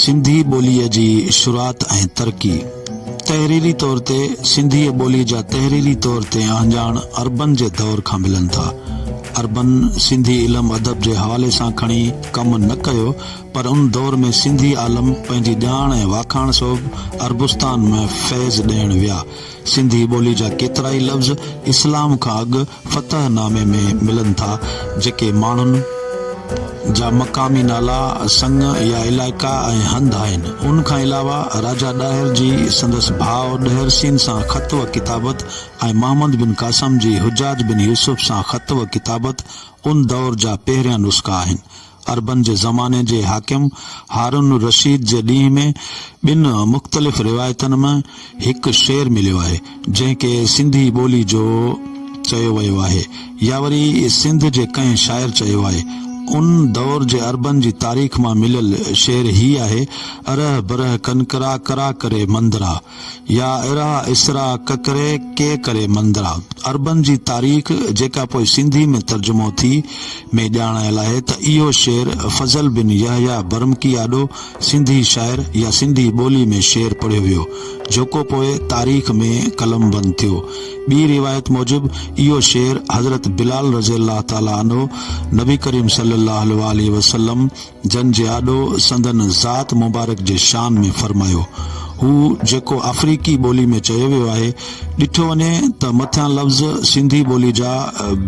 سنڌي ٻوليء جي شروعات ۽ ترقي، تحريري طور تي سنڌيء ٻوليء جا تحريري طور تي اهڃاڻ عربن جي دور کان ملن ٿا. عربن سنڌي علم ادب جي حوالي سان کڻي ڪم نه ڪيو پر ان دور ۾ سنڌي عالم پنهنجي ڄاڻ ۽ واکاڻ سبب عربستان ۾ فيض ڏيڻ ويا. سنڌي ٻولي جا ڪيترائي لفظ اسلام کان اڳ فتح نامي ۾ ملن ٿا، جيڪي ماڻهن جا مقامي نالا، سڱ يا علائقا ۽ هنڌ آهن. ان کان علاوه راجا ڏاهر جي سندس ڀاء ڏهر سين سان خط و ڪتابت ۽ محمد بن قاسم جي حجاج بن يوسف سان خط و ڪتابت ان دؤر جا پهريان نسخا آهن. عربن جي زماني جي حاڪم هارون الرشيد جي ڏينهن ۾ ٻن مختلف روايتن م هڪ شعر مليو آهي، جنهن کي سنڌي ٻولي جو چيو ويو آهي يا وري سنڌ جي ڪنهن شاعر چيو آهي. ان دور جي عربن جي تاريخ مان مليل شعر هي آهي، اره بره ڪنڪرا ڪرا ڪري مندرا. يا ارا، اسرا، ڪڪري، ڪي ڪري مندرا عربن جي تاريخ جيڪا پوء سنڌي ۾ ترجمو ٿي، ۾ ڄاڻايل آهي ته اهو شعر فضل بن يحيٰ برمڪي آڏو سنڌي شاعر يا سنڌي ٻولي ۾ شعر پڙهيو ويو جوڪو پوء تاريخ ۾ قلمبند ٿيو. ٻي روايت موجب اهو شعر حضرت بلال رضي الله تعالٰي عنه نبي ڪريم صلي الله عليه واٰله وسلم جن جي آڏو سندن ذات مبارڪ جي شان ۾ فرمايو هو جيڪو آفريڪي ٻولي ۾ چيو ويو آهي، ڏٺو وڃي ته مٿيان لفظ سنڌي ٻولي جا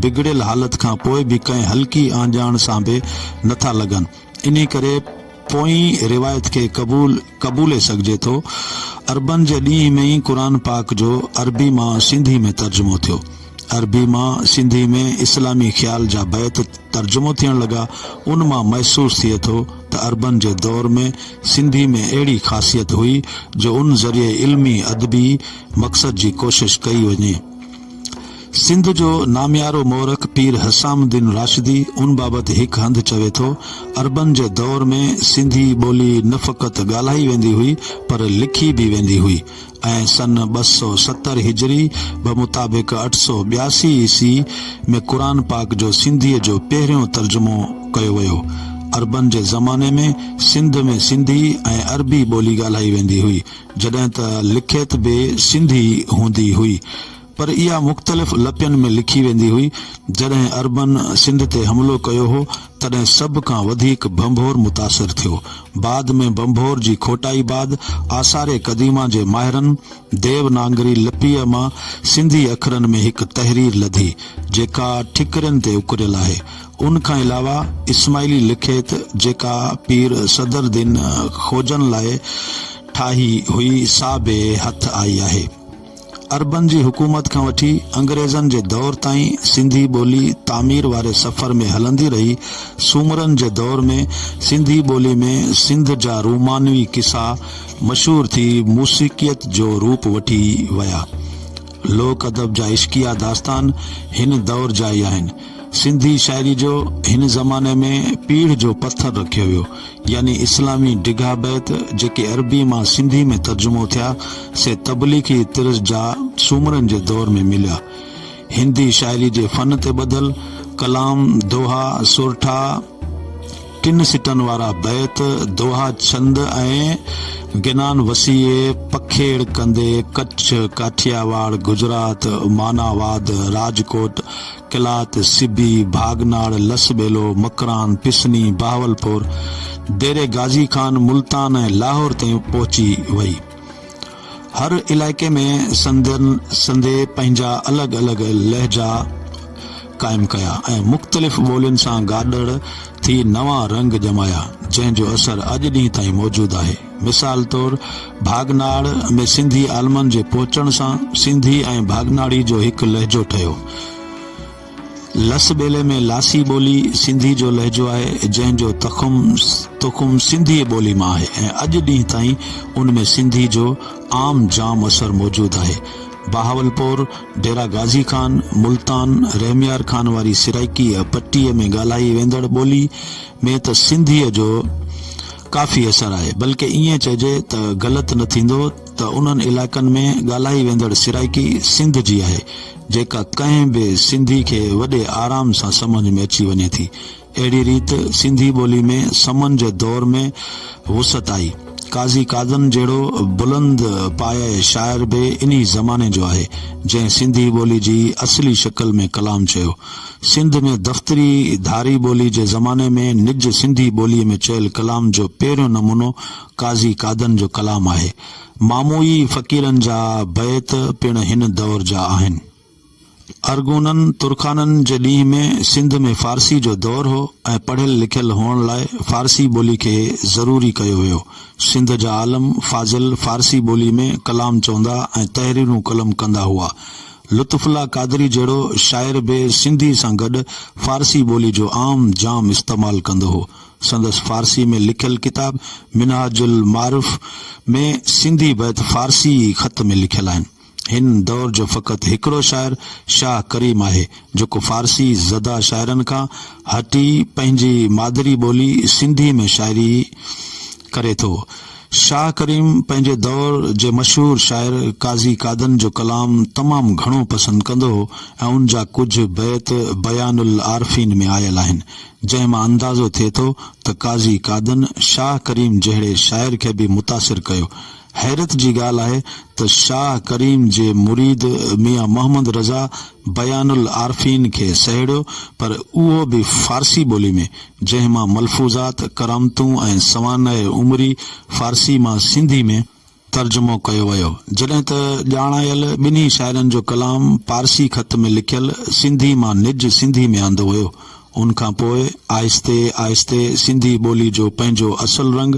بگڙيل حالت کان پوء به ڪنهن هلڪي آنجاڻ سان به نه ٿا لڳن، انهي ڪري پوئين روايت کي قبول قبولي سگهجي ٿو. عربن جي ڏينهن ۾ ئي قرآن پاڪ جو عربي مان سنڌي ۾ ترجمو ٿيو. عربي مان سنڌي ۾ اسلامي خيال جا بيت ترجمو ٿيڻ لڳا، ان مان محسوس ٿئي ٿو ته عربن جي دور ۾ سنڌي ۾ اهڙي خاصيت هئي جو ان ذريعي علمي ادبي مقصد جي ڪوشش ڪئي وڃي. سنڌ جو ناميارو مورخ پير حسام الدين راشدي ان بابت هڪ هنڌ چوي ٿو، عربن جي دور ۾ سنڌي ٻولي نه فقط ڳالهائي ويندي هئي پر لکي به ويندي هئي. ۽ سن ٻه سؤ ستر هجري بمطابق اٺ سؤ ٻياسي عيسوي ۾ قرآن پاڪ جو سنڌيء جو پهريون ترجمو ڪيو ويو. عربن جي زماني ۾ سنڌ ۾ سنڌي ۽ عربي ٻولي ڳالهائي ويندي هئي، جڏهن ته لکيت به سنڌي هوندي هئي. پر اها مختلف لپين ۾ لکي ويندي هئي. جڏهن عربن سنڌ تي حملو ڪيو هو، تڏهن سڀ کان وڌيڪ ڀنڀور متاثر ٿيو. بعد ۾ ڀنڀور جي کوٽائي بعد آثار قديمه جي ماهرن ديونانگري لپيء مان سنڌي اکرن ۾ هڪ تحرير لڌي، جيڪا ٺڪرين تي اڪريل آهي. ان کان علاوه اسماعيلي لکيت جيڪا پير صدرالدين خوجن لاء ٺاهي هئي، سا به هٿ آئي آهي. عربن جي حڪومت کان وٺي انگريزن جي دور تائين سنڌي ٻولي تعمير واري سفر ۾ هلندي رهي. سومرن جي دور ۾ سنڌي ٻولي ۾ سنڌ جا رومانوي قصا مشهور ٿي موسيقيت جو روپ وٺي ويا. لوڪ ادب جا عشقيه داستان هن دور جا ئي آهن. سنڌي شاعري جو هن زماني ۾ پيڙهه جو پٿر رکيو ويو يعني اسلامي ڊگها بيت جيڪي عربي مان سنڌي ۾ ترجمو ٿيا سي تبليغي طرز جا سومرن جي دور ۾ مليا هندي شاعري جي فن تي ٻڌل ڪلام، دوها، سورٺا، ٽن سٽن وارا بيت، دوها، ڇند ۽ گنان وسيع پکيڙ ڪندي ڪڇ، ڪاٺياواڙ، گجرات، مانا واد، راجڪوٽ، قلات، سبي، ڀاڳناڙ، لس ٻيلو، مڪران، پسني، بهاولپور، ديري غازي خان، ملتان ۽ لاهور تائين پهچي وئي. هر علائقي ۾ سندن سنڌي پنهنجا الڳ الڳ لهجا قائم ڪيا ۽ مختلف ٻولين سان گڏڙ ٿي نوان رنگ ڄمايا، جنهن جو اثر اڄ ڏينهن تائين موجود آهي. مثال طور ڀاڳناڙ ۾ سنڌي عالمن جي پهچڻ سان سنڌي ۽ ڀاڳناڙي جو هڪ لهجو ٺهيو. لس ٻيلي ۾ لاسي ٻولي سنڌي جو لهجو آهي، جنهن جو تخم تخم سنڌيء ٻولي مان آهي ۽ اڄ ڏينهن تائين ان ۾ سنڌي جو عام جام اثر موجود آهي. بهاولپور، ڊيرا غازي خان، ملتان، رحميار خان واري سرائڪيء پٽيء ۾ ڳالهائي ويندڙ ٻولي ۾ ته سنڌيء جو ڪافي اثر آهي، بلڪ ائين چئجي ته غلط نه ٿيندو ته انهن علائقن ۾ ڳالهائي ويندڙ سرائڪي سنڌ جي آهي، جيڪا ڪنهن به سنڌي کي وڏي آرام سان سمجهه ۾ اچي وڃي ٿي. اهڙي ريت سنڌي ٻولي ۾ سمن جي دور ۾ وسعت آئي. قاضي قادن جهڙو بلند پايه شاعر به انهي زماني جو آهي، جنهن سنڌي ٻولي جي اصلي شڪل ۾ ڪلام چيو. سنڌ ۾ دفتري ڌاري ٻولي جي زماني ۾ نج سنڌي ٻولي ۾ چيل ڪلام جو پهريون نمونو قاضي قادن جو ڪلام آهي. ماموئي فقيرن جا بيت پڻ هن دور جا آهن. ارغونن، ترخانن، جي ڏينهن ۾ سنڌ ۾ فارسي جو دور هو ۽ پڙهيل لکيل هئڻ لاء فارسي ٻولي کي ضروري ڪيو ويو. سنڌ جا عالم، فاضل فارسي ٻولي ۾ ڪلام چوندا ۽ تحريرون قلم ڪندا هئا. لطف الله قادري جهڙو شاعر به سنڌي سان گڏ فارسي ٻولي جو عام جام استعمال ڪندو هو. سندس فارسي ۾ لکيل ڪتاب منهاج المعارف ۾ سنڌي بيت فارسي ئي خط ۾ لکيل آهن. هن دور جو فقط هڪڙو شاعر شاهه ڪريم آهي، جيڪو فارسي زده شاعرن کان هٽي پنهنجي مادري ٻولي سنڌي ۾ شاعري ڪري ٿو. شاهه ڪريم پنهنجي دور جي مشهور شاعر قاضي قادن جو ڪلام تمام گهڻو پسند ڪندو هو ۽ ان جا ڪجهه بيت بيان العارفين ۾ آيل آهن، جنهن مان اندازو ٿئي ٿو ته قاضي قادن شاهه ڪريم جهڙي شاعر کي به متاثر ڪيو. حيرت جي ڳالهه آهي ته شاهه ڪريم جي مريد ميان محمد رضا بيان العارفين کي سهيڙيو پر اهو به فارسي ٻولي ۾، جنهن مان ملفوظات، ڪرامتون ۽ سوانح عمري فارسي مان سنڌي ۾. ترجمو ڪيو ويو، جڏهن ته ڄاڻايل ٻنهي شاعرن جو ڪلام پارسي خط ۾ لکيل سنڌي مان نج سنڌي ۾ آندو ويو. ان کان پوء آهستي آهستي سنڌي ٻولي جو پنهنجو اصل رنگ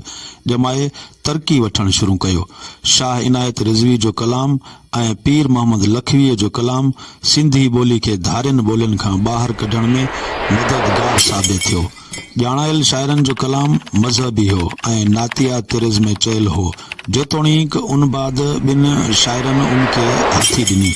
ڄمائي ترقي وٺڻ شروع ڪيو. شاهه عنايت رضوي جو ڪلام ۽ پير محمد لکويء جو ڪلام سنڌي ٻولي کي ڌارين ٻولين کان ٻاهر ڪڍڻ ۾ مددگار ثابت ٿيو. ڄاڻايل شاعرن جو ڪلام مذهبي هو ۽ نعتيه طرز ۾ چيل هو، جيتوڻيڪ ان بعد ٻن شاعرن ان کي هٿي ڏني.